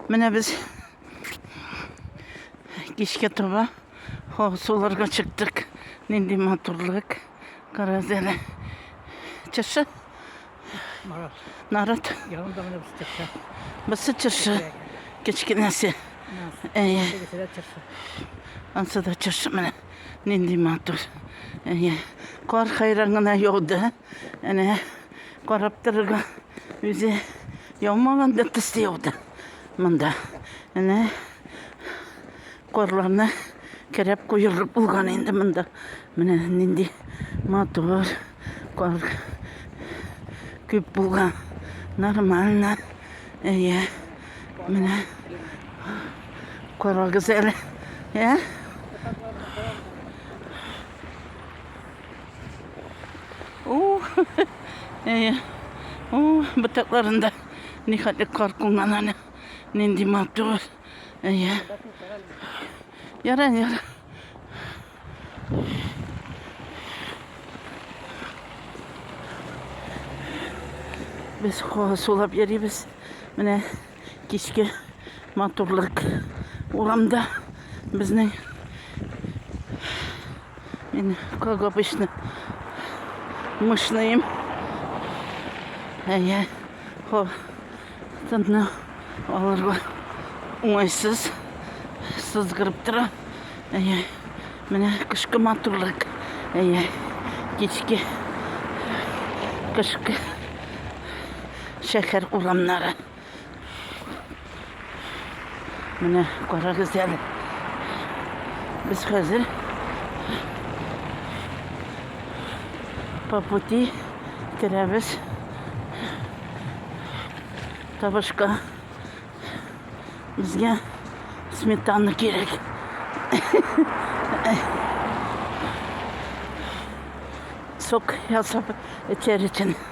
Менә без кичкә таба суларга чыктык. Нинди матурлык. Карагыз әле. Чыршы. Нарат. Янында менә без чыршы. Бысы чыршы. Кечкенәсе. Әйе. Ансы да чыршы менә. Нинди матур. Әйе. Кар хайран гына яуды. Әнә карап торырга үзе яумаган да төсте юк да монда. Әнә карларны кереп куелып булган инде монда. Менә нинди матур кар күп булган. Нормально. Әйе. Менә карагыз әле. Ә? О, әйе. О, бытакларында нихәтле кар кунган әле. Нинди матур. Әйе. Яра, яра. Без сулап йөрибез. Менә кичке матурлык. Урамда безнең мин как обычно мышныйм. Әйе, хо, тынны алырга уңайсыз сызгырып тора. Әйе, менә кышкы матурлык. Әйе, кичке кышкы шәһәр урамнары. Менә карагыз әле. Без хәзер по пути керәбез табышка. Безгә сметана кирәк. Сок ясап эчәр өчен.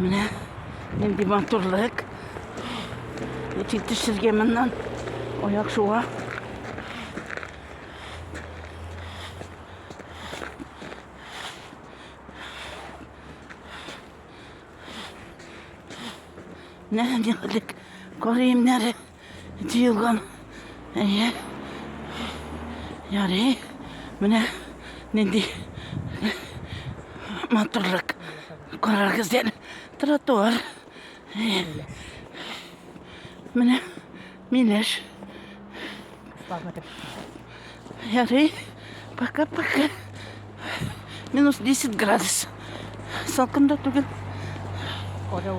Менә нинди матурлык. Әти төшергән моннан аяк шуга. Менә нихәлек кар иемнәре. Тиелган. Әйе. Ярый. Менә нинди матурлык. Карагыз дә тротуар. Менә миләш. Ярый. Пока-пока. Минус 10 градус. Салкында түгел. Корел